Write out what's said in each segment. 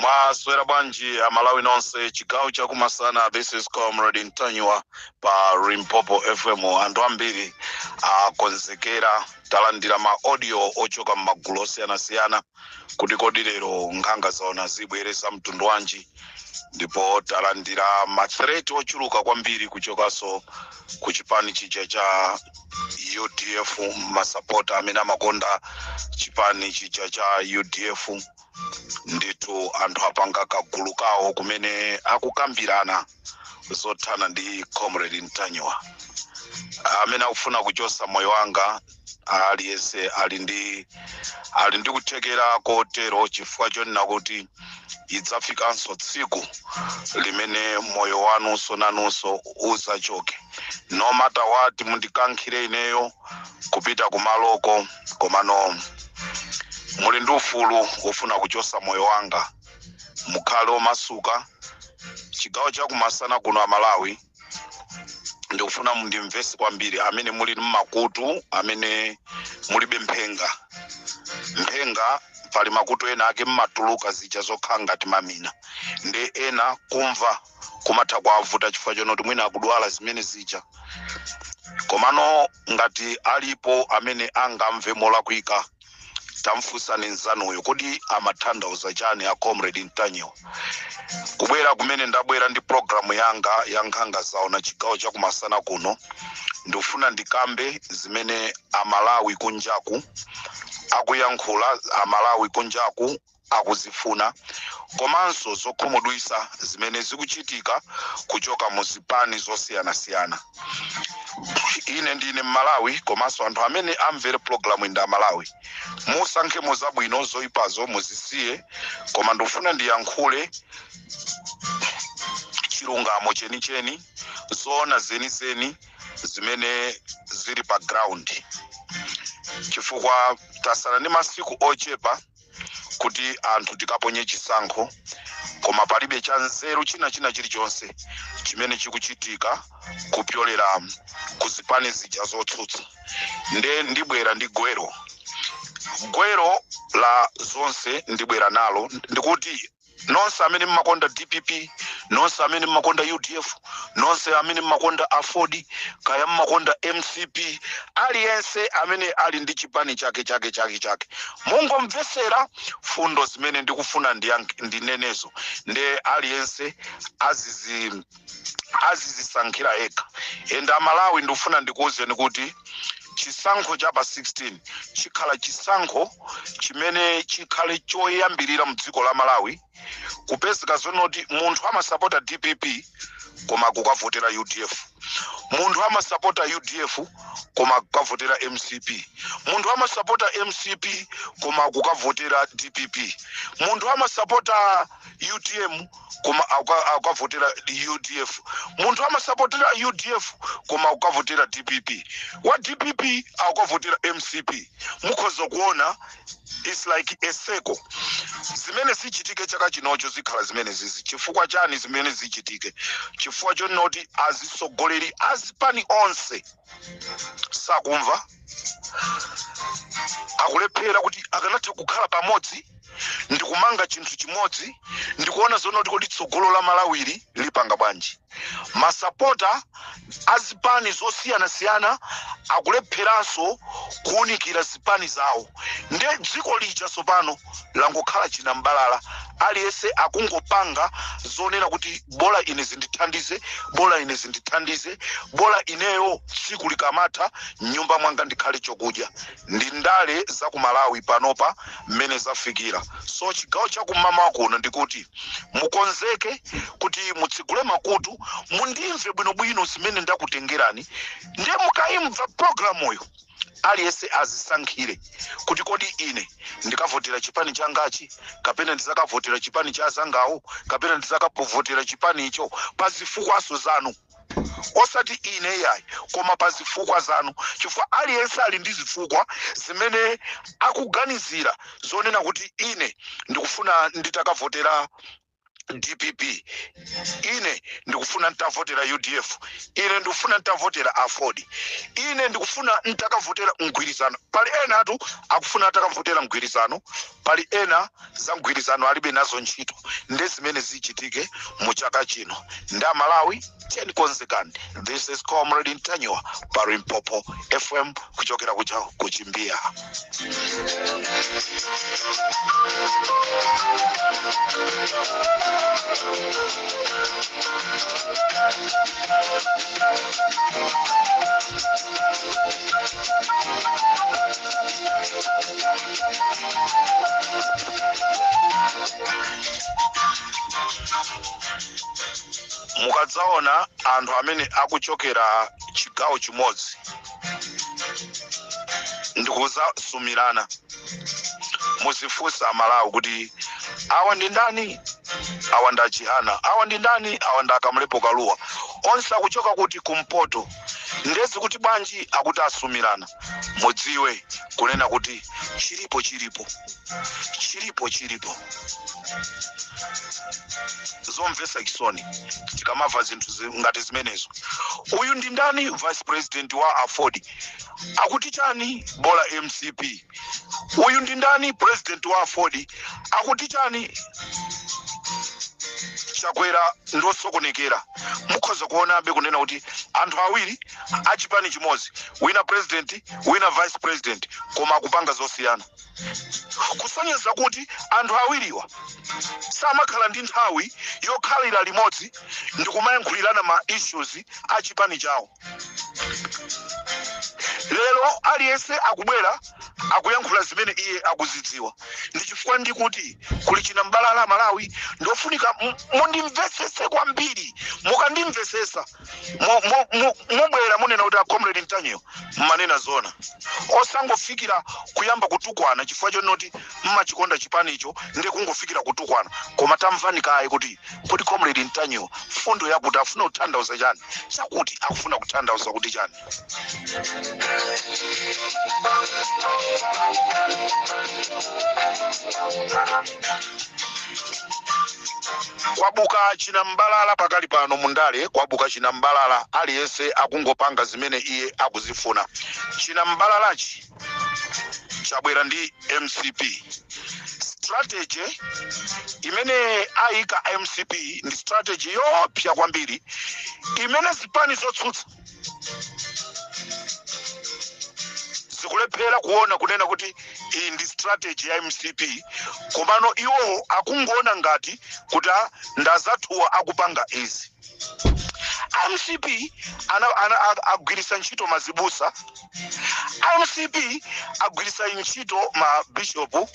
mwaswera bwanji amalawi nonse chigawo chakumasana this is comrade ntanyiwa pa limpopo fm anthu ambiri akonzekera talandira ma audio ochoka m'magulu osiyanasiyana kuti kodi lero nkhanga zaona zibwereza mtundu wanji ndipo talandira mathreat ochuluka kwambiri kuchokaso ku chipani chija cha udf masapota amene amakonda chipani chija cha udf ndithu anthu apanga kagulu kawo kumene akukambirana zothana ndi comrade ntanyiwa amene akufuna kuchosa moyo wanga aliyense ali ndi ali ndi kuthekera kotero chifukwa chonena kuti idzafikanso tsiku limene moyo wanunso nanunso uzachoke no matter what mundikankhire ineyo kupita kumaloko komano muli ndi ufulu wofuna kuchosa moyo wanga mukhale omasuka chigawo chakumasana kuno amalawi ndikufuna mundimvese kwambiri amene muli mmakutu amene mulibe mphenga mphenga pali makutu ena ake mmatuluka zija zokhala ngati mamina nde ena kumva kumatha kuwavuta chifukwa chonoti mwina akudwala zimene zija komano ngati alipo amene angamve molakwika tamfunsani nzanuyo kodi amathandauza chani a comrade ntanyiwa kubwera kumene ndabwera ndi programu yanga ya nkhanga zaona chigawo chakumasana kuno ndikufuna ndikambe zimene amalawi kunjaku akuyankhula amalawi kunjaku akuzifuna komanso zokhumudwisa zimene zikuchitika kuchoka mu zipani zosiyanasiyana ine ndine mmalawi komanso anthu amene amvere pulogalamuyi ndi amalawi musankhemo zabwino zoyipazo muzisiye koma ndikufuna ndiyankhule chilungamo chenicheni zoona zenizeni zimene zili pa ground chifukwa tasala ndi masiku ochepa kuti anthu tikaponye chisankho koma palibe cha nzeru china china chilichonse chimene chikuchitika kupyolera ku zipani zija zotsutsa nde ndibwera ndi gwero gwero la zonse ndibwera nalo ndikuti nonse amene mmakonda dpp nonse amene mmakonda udf nonse amene mmakonda aford kaya mmakonda mcp aliyense amene ali ndi chipani chake chake chake chake mungomvesera fundo zimene ndikufuna ndiyank- ndinenezo nde aliyense azizi azizisankhira yekha and amalawi ndikufuna ndikuwuzeni kuti chisankho cha pa 16 chikhala chisankho chimene chikhale choyambirira mu dziko la malawi kupezeka zonoti munthu amasapota dpp koma akukavotera udf munthu amasapota udf koma akukavotera mcp munthu amasapota mcp koma akukavotera dpp munthu amasapota utm koma aku- akukavotera udf munthu amasapotera udf koma akukavotera dpp wa dpp akukavotera mcp mukhoza kuona its like a circle zimene zichitike chaka chinocho zikhala zimene zizi chifukwa chani zimene zichitike chifukwa chonoti azisogoleri azipani onse sakumva akulephera kuti akanatha kukhala pamodzi ndikumanga chinthu chimodzi ndikuona zonena kuti kodi tsogolo la malawili lipanga bwanji masapota a zipani zosiyanasiyana akulepheranso kuunikira zipani zawo nde dziko lija tsopano langokhala chinam'balala aliyense akungopanga zonena kuti bola ine zindithandize bola ine zindithandize bola ineyo tsiku likamatha mnyumba mwanga ndikhale chokudya ndi ndale za ku malawi panopa mmene zafikira so chigawo cha kum'mawa kuno ndikuti mukonzeke kuti mutsegule makutu mundimve bwinobwino zimene ndakutengerani ndiye mukayimva programuyo aliyense azisankhire kuti kodi ine ndikavotera chipani changachi kapena ndizakavotera chipani cha azangawo kapena ndizakavotera chipani icho pa zifukwaso zanu osati ine yayi koma pa zifukwa zanu chifukwa aliyense ali ndi zifukwa zimene akuganizira zonena kuti ine ndikufuna nditakavotera dpp ine ndikufuna ntavotera udf ine ndikufuna ntavotera aford ine ndikufuna ntakavotera mgwirizano pali enatu akufuna atakavotera mgwirizano Pali ena za mgwirizano alibe nazo ntchito nde zimene zichitike mu chaka chino nde amalawi tiyeni konzekani this is comrade ntanyiwa pa limpopo fm kuchokera kuja ku chimbiya mukadzaona anthu amene akuchokera chigawo chimodzi ndikuzasumirana muzifunsa aMalawi kuti awa ndi ndani awa ndi a Chihana awa ndi ndani awa ndi a Kamlepo Kaluwa onse akuchoka kuti kumpoto nde zi kuti bwanji akuti asumirana mudziwe kunena kuti chilipo chilipo chilipo chilipo zomvesa chisoni tikamava zinthu zi- ngati zimenezo uyu ndi ndani vice president wa aford akuti chani bola mcp uyu ndi ndani president wa aford akuti chani chakwera ndi osokonekera mukhoza kuonabe kunena kuti anthu awiri achipani chimodzi wina president wina vice president koma akupanga zosiyana kusonyeza kuti anthu awiriwa samakhala ndi nthawi yokhalira limodzi ndikumayankhulirana ma issues a chipani chawo lero aliyense akubwera akuyankhula zimene iye akuzidziwa ndi chifukwa ndikuti kuli chinambalala malawi ndofunika m- mundimvesese kwambiri mukandimvesesa mo- mo- mo- mubwera munena kuti a comrade Ntanyiwa mmanena zona osangofikira kuyamba kutukwana chifukwa chonoti mmachikonda chipanicho ndi kungofikira kutukwana koma tamvani kaye kuti Kodi comrade Ntanyiwa mfundo yake akufuna kutanthauza chani chakuti akufuna kutanthauza kuti chani? kwabuka chinambalala pakali pano mundale kwabuka chinambalala aliyense akungopanga zimene iye akuzifuna chinambalalachi chabwera ndi mcp strategy imene ayika mcp ndi strategy yoopsa kwambiri imene zipani zotsutsa zikulephera kuona kunena kuti iyi ndi strategy ya mcp komano iwo akungoona ngati kuti ah, ndi anzathuwa akupanga izi mcp ana, ana, a- agwiritsa ntchito azibusa mcp agwiritsa ntchito mabishopu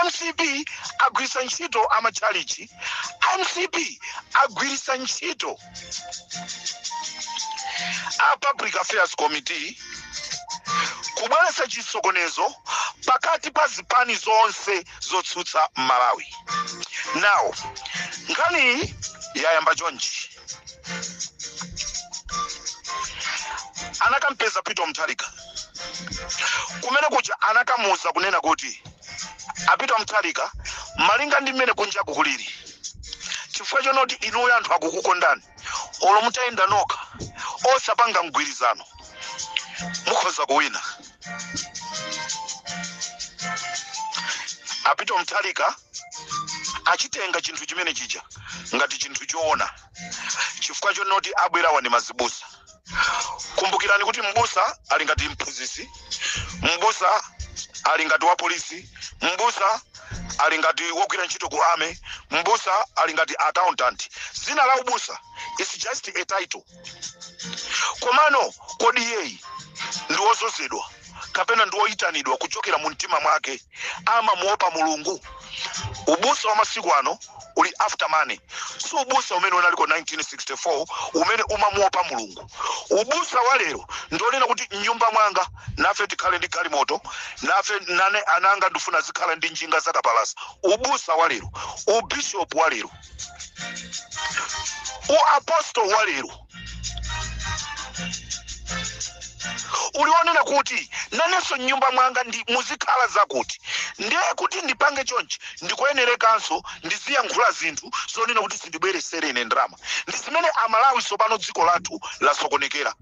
mcp agwiritsa ntchito amatchalichi mcp agwiritsa ntchito a public affairs committee kubweretsa chisokonezo pakati pa zipani zonse zotsutsa m'malawi now nkhaniyi yayamba chonchi anakampeza peter mutharika kumene kuja anakamuuza kunena kuti a Peter mutharika malinga ndi mmene kunjaku kulili chifukwa chonoti inuyo anthu akukukondani olo mutayenda nokha osapanga mgwirizano mukhoza kuwina a Peter mutharika anachitenga chinthu chimene chija ngati chinthu choona chifukwa chonoti abwerawa ndi mazibusa kumbukirani kuti mbusa ali ngati mphunzitsi mbusa ali ngati wa polisi mbusa ali ngati wogwira ntchito ku army mbusa ali ngati accountant dzina la ubusa is just a title komano kodi iyeyi ndi wozozedwa kapena ndi woyitanidwa kuchokera mu mtima mwake amamuopa mulungu ubusa wa masiku ano uli after money si ubusa umene unaliko 1964 umene umamuopa mulungu ubusa wa lero ndi wonena kuti mnyumba mwanga nafe tikhale ndi galimoto nafe nane ananga ndifuna azikhala ndi njinga zakapalasa ubusa wa lero ubishopu wa lero uapostol wa lero uli wonena kuti nanenso m'nyumba mwanga ndi muzikhala zakuti ndiye kuti ndipange chonchi ndikuyenerekanso ndiziyankhula zinthu zonena kuti zindibweresere ine ndalama ndi zimene amalawi tsopano dziko lathu lasokonekera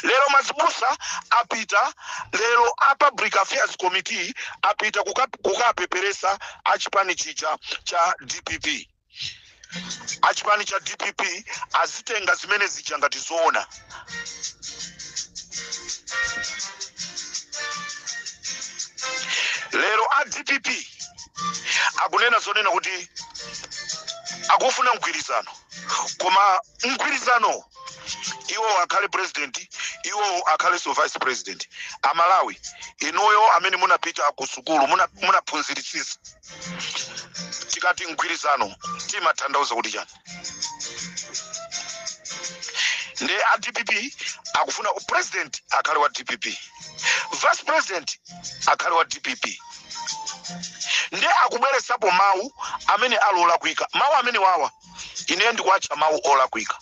lero mazibusa apita lero a public affairs committee apita kukapeperesa a chipani chija cha dpp achipani cha dpp azitenga zimene zija ngati zoona lero a dpp akunena zonena kuti akufuna mgwirizano koma mgwirizano iwo akhale president iwo akhalenso vice president amalawi inuyo amene munapita ku sukulu munaphunziritsitsa tikati mgwirizano timatanthauza kuti chani ndiye a dpp akufuna u president akhale wa dpp vice president akhale wa dpp ndiye akubweresapo mawu amene ali olakwika mawu amene awa ineyo ndikuwatcha mawu olakwika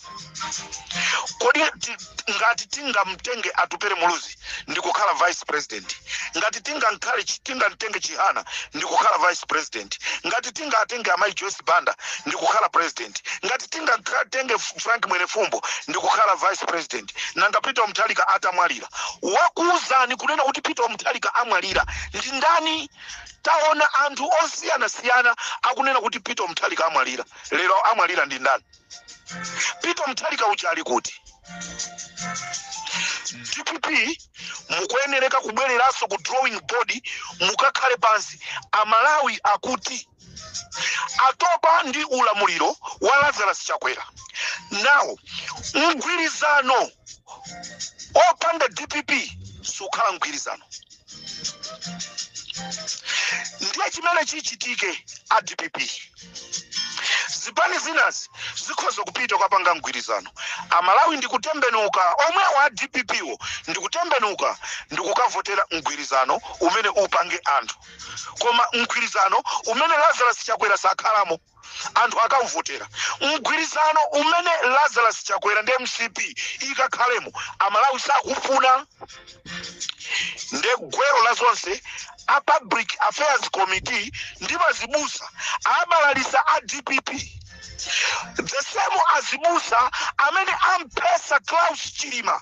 kodi ti- ngati tingamtenge atupere muluzi ndikukhala vice president ngati tingankhale chi- tingamtenge chihana ndikukhala vice president ngati tingatenge amayi joyce banda ndikukhala president ngati tingatenge frank mwenefumbo ndikukhala vice president nanga peter mutharika atamwalira wakuuzani kunena kuti peter mutharika amwalira ndi ndani Taona anthu osiyanasiyana akunena kuti Peter Mutharika amwalira. Lero amwalira ndi ndani? Peter Mutharika uja ali kuti? dpp mukuyenereka kubwereranso ku drawing board mukakhale pansi amalawi akuti atopa ndi ulamuliro wa lazarus chakwera nawo mgwirizano opanda dpp sukhala mgwirizano ndiye chimene chichitike a dpp zipani zinazi zikhoza kupita ukapanga mgwirizano amalawi ndikutembenuka omwewo a dpp wo ndikutembenuka ndikukavotera mgwirizano umene upange anthu koma mgwirizano umene lazarus chakwera sakhalamo anthu akavotera mgwirizano umene lazarus chakwera ndi mcp ikakhalemo amalawi sakufuna nde gwero la zonse a public affairs committee ndi mazibusa abalalisa a dpp the same azibusa amene amphetsa klaus chilima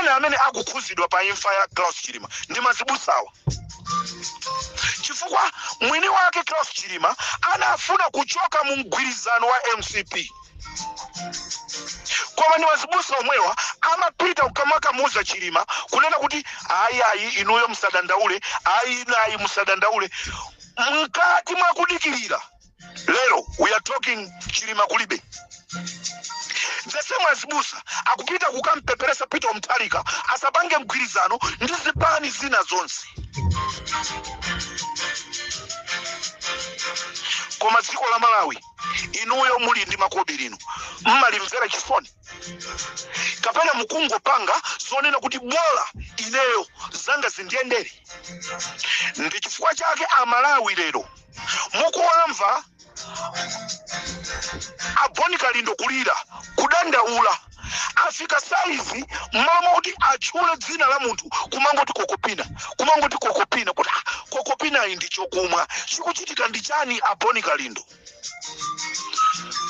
ena amene akukhuzidwa pa imfa ya Klaus Chilima ndi mazibusawa chifukwa mwini wake Klaus Chilima anafuna kuchoka mu mgwirizano wa mcp koma ndi mazibusa omwewa amapita kukamakamuza chilima kunena kuti ayi ayi inuyo musadandaule ayi inu ayi musadandaule mkati mwakudikirira lero we are talking chilima kulibe the same azibusa akupita kukampeperesa peter mutharika asapange mgwirizano ndi zipani zina zonse koma dziko la malawi inuyo muli ndi makobiri inu mmalimvera chisoni kapena mukungopanga zonena kuti bola ineyo zanga zindiyendera ndi chifukwa chake amalawi lero mukuwamva aboni kalindo kulira kudandaula afika saizi mmalo mwakuti atchule dzina la munthu kumangoti kokopina kumangoti kokopina kuti "Ah, kokopinayi ndi chokumwa chikuchitika ndi chani aboni kalindo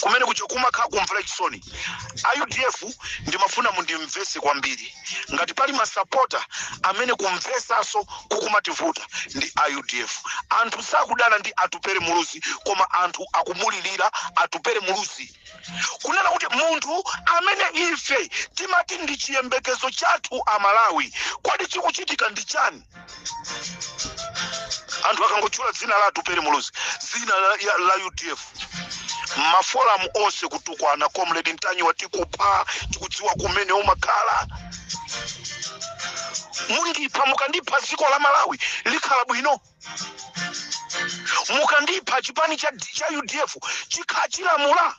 kumene kuchokumwa nkhakumvera chisoni a udf ndimafuna mundimvese kwambiri ngati pali masapota amene kumvesaso kukumawavuta ndi a udf anthu sakudana ndi atupere muluzi koma anthu akumulilira atupere muluzi kunena kuti munthu amene ife timati ndi chiyembekezo chathu amalawi kodi chikuchitika ndi chani anthu akangotchula dzina la atupere muluzi dzina la, ya- la udf mafolamu onse kutukwana comrade ntanyiwa tikupha tikudziwa kumene umakhala mundipha mukandipha dziko la malawi likhala bwino mukandipha chipani cha, cha udf chikhala chilamula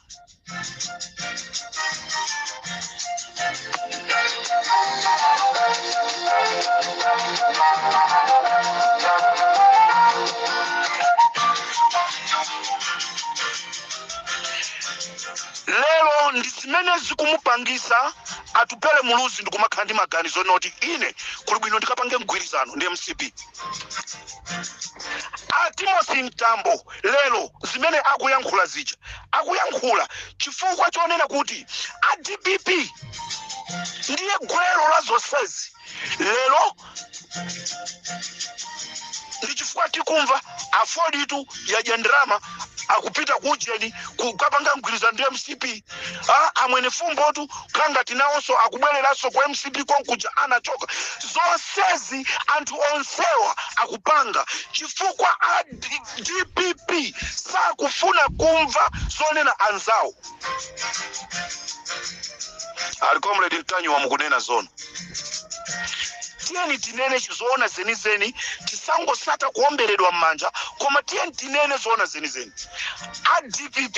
lero ndi zimene zikumupangisa atupere muluzi ndikumakhala ndi maganizo oti ine kuli bwino ndikapange mgwirizano ndi mcp a timothy mtambo lero zimene akuyankhula zija akuyankhula chifukwa chonena kuti a dpp ndiye gwero la zonsezi lero ndi chifukwa tikumva aford ituyo ya chihana akupita ku ujeni kukapanga mgwirizano ndi mcp ah, amwene fumbotu kangati nawonso akubwereranso ku mcp konkuja anachoka zonsezi anthu onsewa akupanga chifukwa a dpp sakufuna kumva zonena anzawo ali comrade ntanyiwa mukunena zoona tiyeni tinene zoona zenizeni tisangosata kuomberedwa m'manja koma tiyeni tinene zoona zenizeni a dpp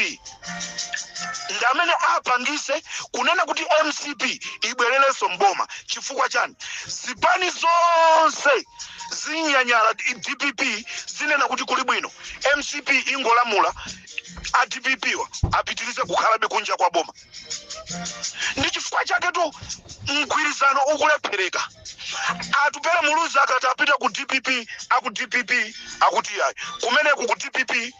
ndi amene apangise kunena kuti mcp ibwererenso mboma chifukwa chani zipani zonse zinyanyala dpp zinena kuti kuli bwino mcp ingolamula a dpp wa apitirize kukhalabe kunja kwa boma ndi chifukwa chaketu mgwirizano ukulephereka atupere muluzi akati apita ku dpp aku dpp akuti ayi kumeneko ku dpp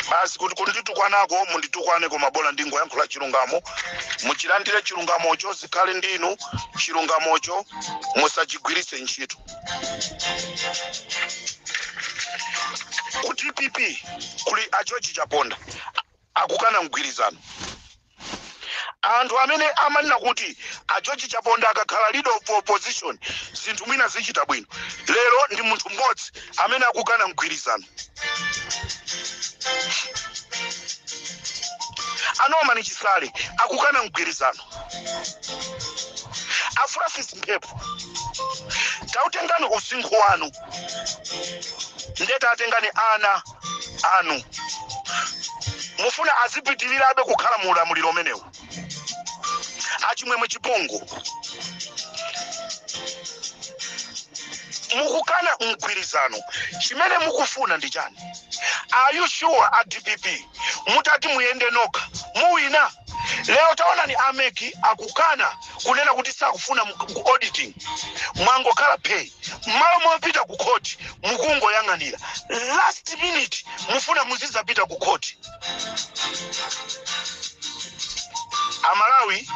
basi kuti kunditukwanako munditukwane koma bola ndingoyankhula chilungamo muchilandire chilungamocho zikhale ndinu chilungamocho musachigwiritse ntchito ku dpp kuli a george chaponda akukana mgwirizano anthu amene amanena kuti a George Chaponda akakhala leader of opposition zinthu mwina zichita bwino, lero ndi munthu mmodzi amene akukana mgwirizano. A Norman Chisale akukana mgwirizano. A Francis Mphepo tawatengani usinkhu wanu ndeta atengani ana anu mufuna azipitirirabe kukhala mu ulamuliro umenewu achimwemwe chipungu mukukana mgwirizano chimene mukufuna ndi chani are you sure a dpp mutati muyende nokha muwina lero taonani a MEC akukana kunena kuti sakufuna mu- ku auditing mwangokhala phee mmalo mopita ku khoti mukungoyang'anira last minute mufuna muzidzapita ku khoti amalawi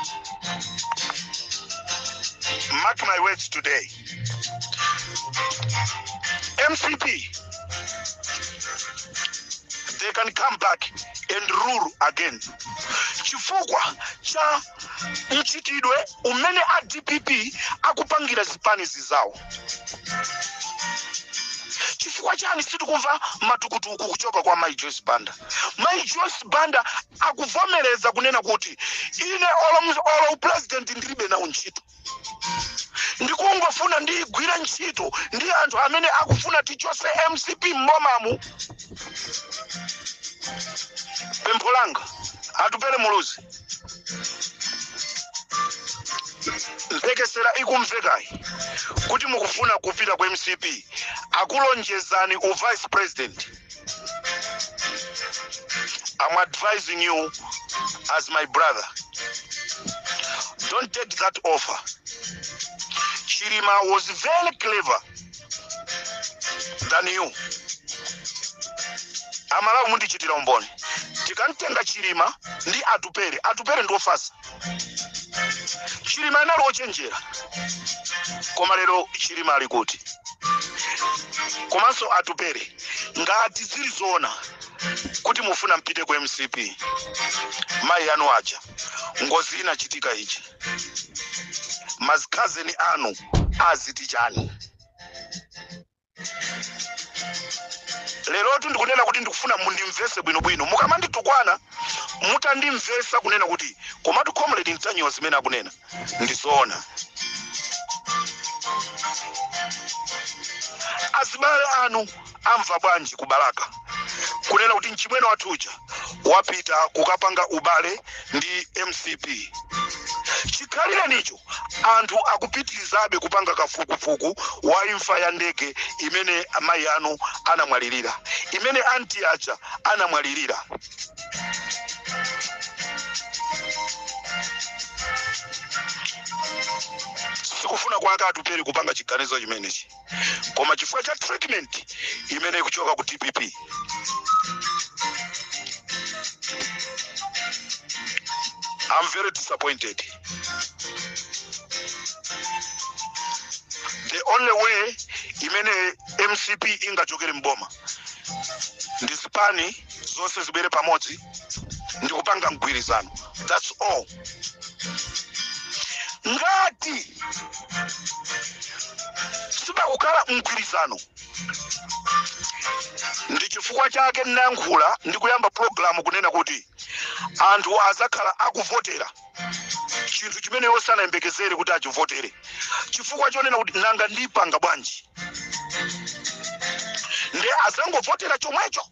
mark my words today mcp they can come back and rule again chifukwa cha mchitidwe umene a dpp akupangira zipani zizawo chifukwa chani sitikumva matukutuku kuchoka kwa mai joyce banda mai joyce banda akuvomereza kunena kuti ine olo olo upulezidenti ndilibe nawo ntchito ndikungofuna ndigwire ntchito ndi anthu amene akufuna tichose mcp m'bomamu pempho langa atupele muluzi mphekesera ikumvekayi kuti mukufuna kupita ku mcp akulonjezani u vice president I'm advising you as my brother. Don't take that offer. Chilima was very clever than you. amalawi mundichitira umboni tikamtenga chilima ndi atupele atupele ndiofasa chilima anali ochenjera koma lero chilima ali kuti komanso atupele ngati zili zoona kuti mufuna mpite ku mcp mayi anu aja ngozi inachitika ichi makhazeni anu aziti chani lerotu ndikunena kuti ndikufuna mundimvese bwinobwino mukamanditukwana mutandimvesa kunena kuti komatu comrade ntanyiwa zimene akunena ndizoona azibale anu amva bwanji ku balaka kunena kuti mchimwene wathu uja wapita kukapanga ubale ndi mcp chikhalirenicho Anthu akupitirizabe kupanga kafukufuku wa imfa ya ndege imene mayi anu anamwalirira, imene anti aja anamwalirira. Sikufuna kwake Atupele kupanga chiganizo chimenechi. koma chifukwa cha treatment imene ikuchoka ku dpp I'm very disappointed. The only way imene MCP ingachokere mboma ndi zipani zonse zibwere pamodzi ndi kupanga mgwirizano. That's all. ngati sipakukhala mgwirizano ndi chifukwa chake ndinayankhula ndi kuyamba pulogalamu kunena kuti anthu azakhala akuvotera chinthu chimene iwo sanayembekezere kuti achivotere chifukwa chonena kuti nanga ndipanga bwanji nde azangovotera chomwecho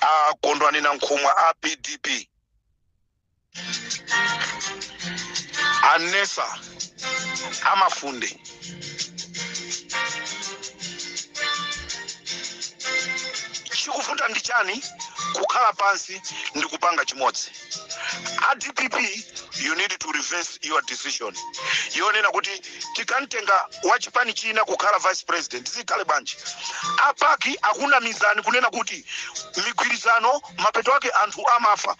a kondwani nankhumwa a pdp a mnesa a mafunde chikuvuta ndi chani kukhala pansi ndi kupanga chimodzi a dpp you need to reverse your decision yonena kuti tikamtenga wa chipani china kukhala vice president zikhale bwanji a pac akunamizani kunena kuti migwirizano mapeto ake anthu amafa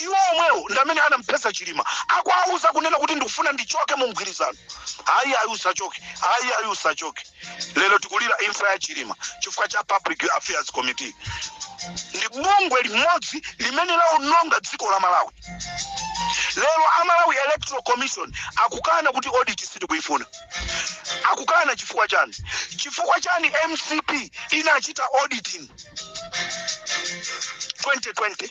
iwo omwewo ndi amene anamphetsa chilima akuwauza kunena kuti ndikufuna ndichoke mu mgwirizano ayi ayi usachoke ayi ayi usachoke lero tikulira imfa ya chilima chifukwa cha public affairs committee ndi bungwe limodzi limene laononga dziko la malawi lero a malawi electoral commission akukana kuti audit sitikuyifuna akukana chifukwa chani chifukwa chani mcp inachita auditing 2020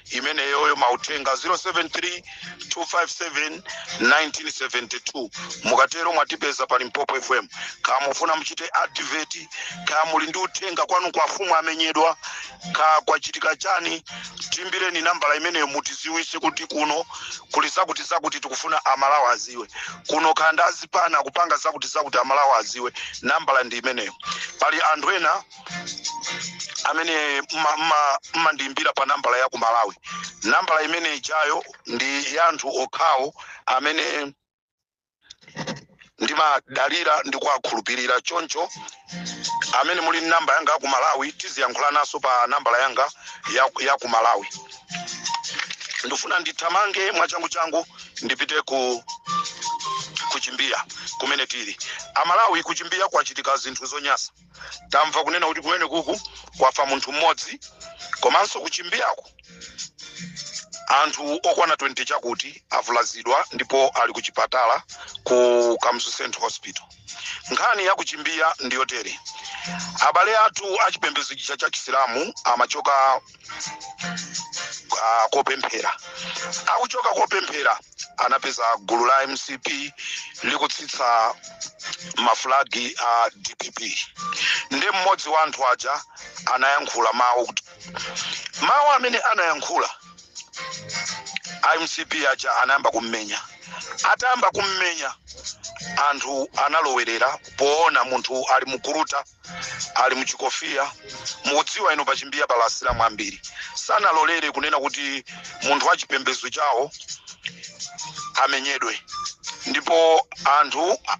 imeneyoyo mauthenga 0732571972 mukatero mwatipeza pa limpopo fm kaya mufuna muchite advert kaya muli ndi uthenga kwanuko afumu amenyedwa kaya kwachitika chani tiimbireni nambala imeneyo mutiziwise kuti kuno kuli zakuti zakuti tikufuna amalawi aziwe kuno kaya ndi azipani akupanga zakuti zakuti amalawi aziwe nambala ndi imeneyo pali anthu ena amene mma- mma- mmandiimbira pa nambala ya ku malawi nambala imene ijayo ndi ya anthu okhawo amene ndimadalira ndi kuwakhulupirira choncho amene muli ndi namba yanga ya ku malawi tiziyankhulananso pa nambala yanga ya, ya ku malawi ndifuna ndithamange mwachanguchangu ndipite ku chimbiya kumene tili amalawi ku chimbiya kwachitika zinthu zonyasa tamva kunena kuti kumene kuku kwafa munthu mmodzi komanso kuchimbiyako anthu okwana 20 chakuti avulazidwa ndipo ali ku chipatala ku Kamuzu central hospital nkhani ya kuchimbiya ndiyotere abale athu achipembedzo chija cha chisilamu amachoka ah, kopemphera akuchoka kopemphera anapeza gulu la mcp likutsitsa mafulagi a dpp ndi mmodzi wa anthu aja anayankhula mawu kuti mawu amene anayankhula a mcp aja anayamba kummenya atayamba kummenya anthu analowerera poona munthu ali mukuruta ali muchikofiya mukudziwa inu pachimbiya pala asilamu ambiri sanalolere kunena kuti munthu wa chipembedzo chawo amenyedwe ndipo anthu a-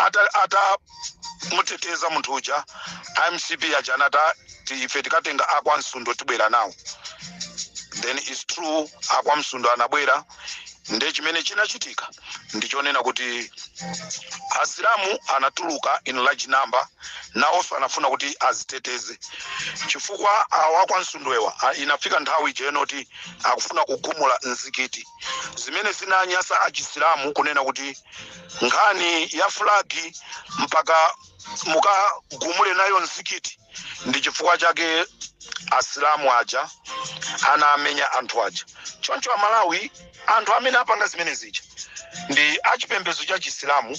ata- atamuteteza munthu uja a mcp aja anata ti- ife tikatenga akwa msundwe tibwera nawo then its true akwa msundwe anabwera nde chimene chinachitika ndichonena kuti asilamu anatuluka in large number nawonso anafuna kuti adziteteze chifukwa awa kwa msundwewa a- inafika nthawi ija yoti akufuna kugumula mzikiti zimene zinanyasa achisilamu kunena kuti nkhani ya fulagi mpaka mukagumule nayo mzikiti ndi chifukwa chake asilamu aja anamenya anthu aja choncho amalawi anthu amene apanga zimene zija ndi achipembedzo cha chisilamu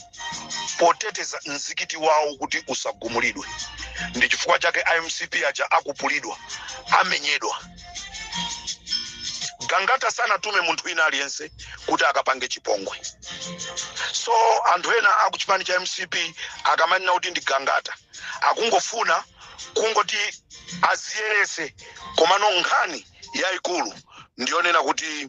poteteza mzikiti wawo kuti usagumulidwe ndi chifukwa chake amcp aja akupulidwa amenyedwa gangata sanatume munthu wina aliyense kuti akapange chipongwe so anthu ena akuchipani cha mcp akamanena kuti ndi gangata akungofuna kungoti adziyeretse komano nkhani yayikulu ndiyonena kuti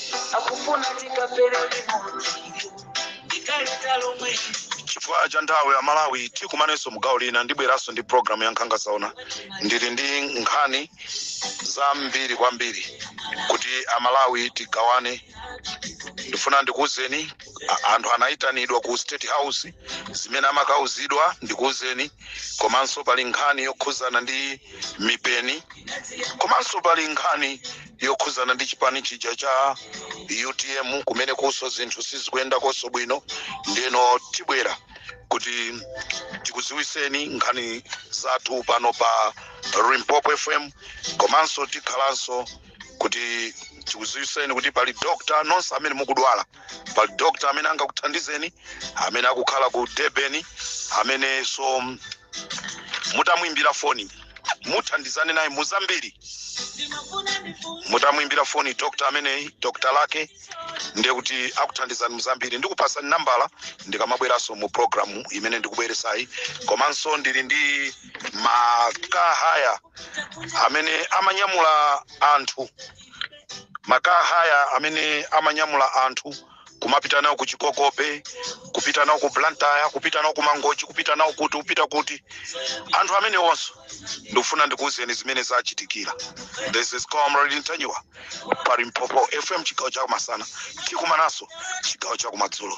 akufuna tikapere limodzi ndikalita lomwe chifukwa cha nthawi amalawi tikumanenso mugawo lina ndibweranso ndi programu ya nkhanga zaona ndili ndi nkhani zambiri kwambiri kuti amalawi tigawane ndifuna ndikuwuzeni a- anthu anayitanidwa ku state house zimene amakawuzidwa ndikuwuzeni komanso pali nkhani yokhudzana ndi mipeni komanso pali nkhani yokhudzana ndi chipani chija cha utm kumene kunso zinthu sizikuyenda konso bwino ndeno tibwera kuti tikudziwitseni nkhani zathu pano pa limpopo fm komanso tikhalanso kuti tikudziwitseni kuti pali dokta nonse amene mukudwala pali dokta amene angakuthandizeni amene akukhala ku durban amenenso mutamwimbira foni muthandizane naye muzambiri mutamwimbira foni dokta ameneyi dokta lake ndiye kuti akuthandizani muzambiri ndikupasani nambala ndikamabweranso mu programu imene ndikubweretsayi komanso ndili ndi makhahaya amene amanyamula anthu makhahaya amene amanyamula anthu kumapita nawo ku chikokope kupita nawo ku blantyre kupita nawo ku mangochi kupita nawo kuti kupita kuti anthu amenewonso ndikufuna ndikuwuzeni zimene zachitikira this is comrade mtanyiwa pa limpopo fm chigawo chakumasana tikumananso chigawo chakumadzulo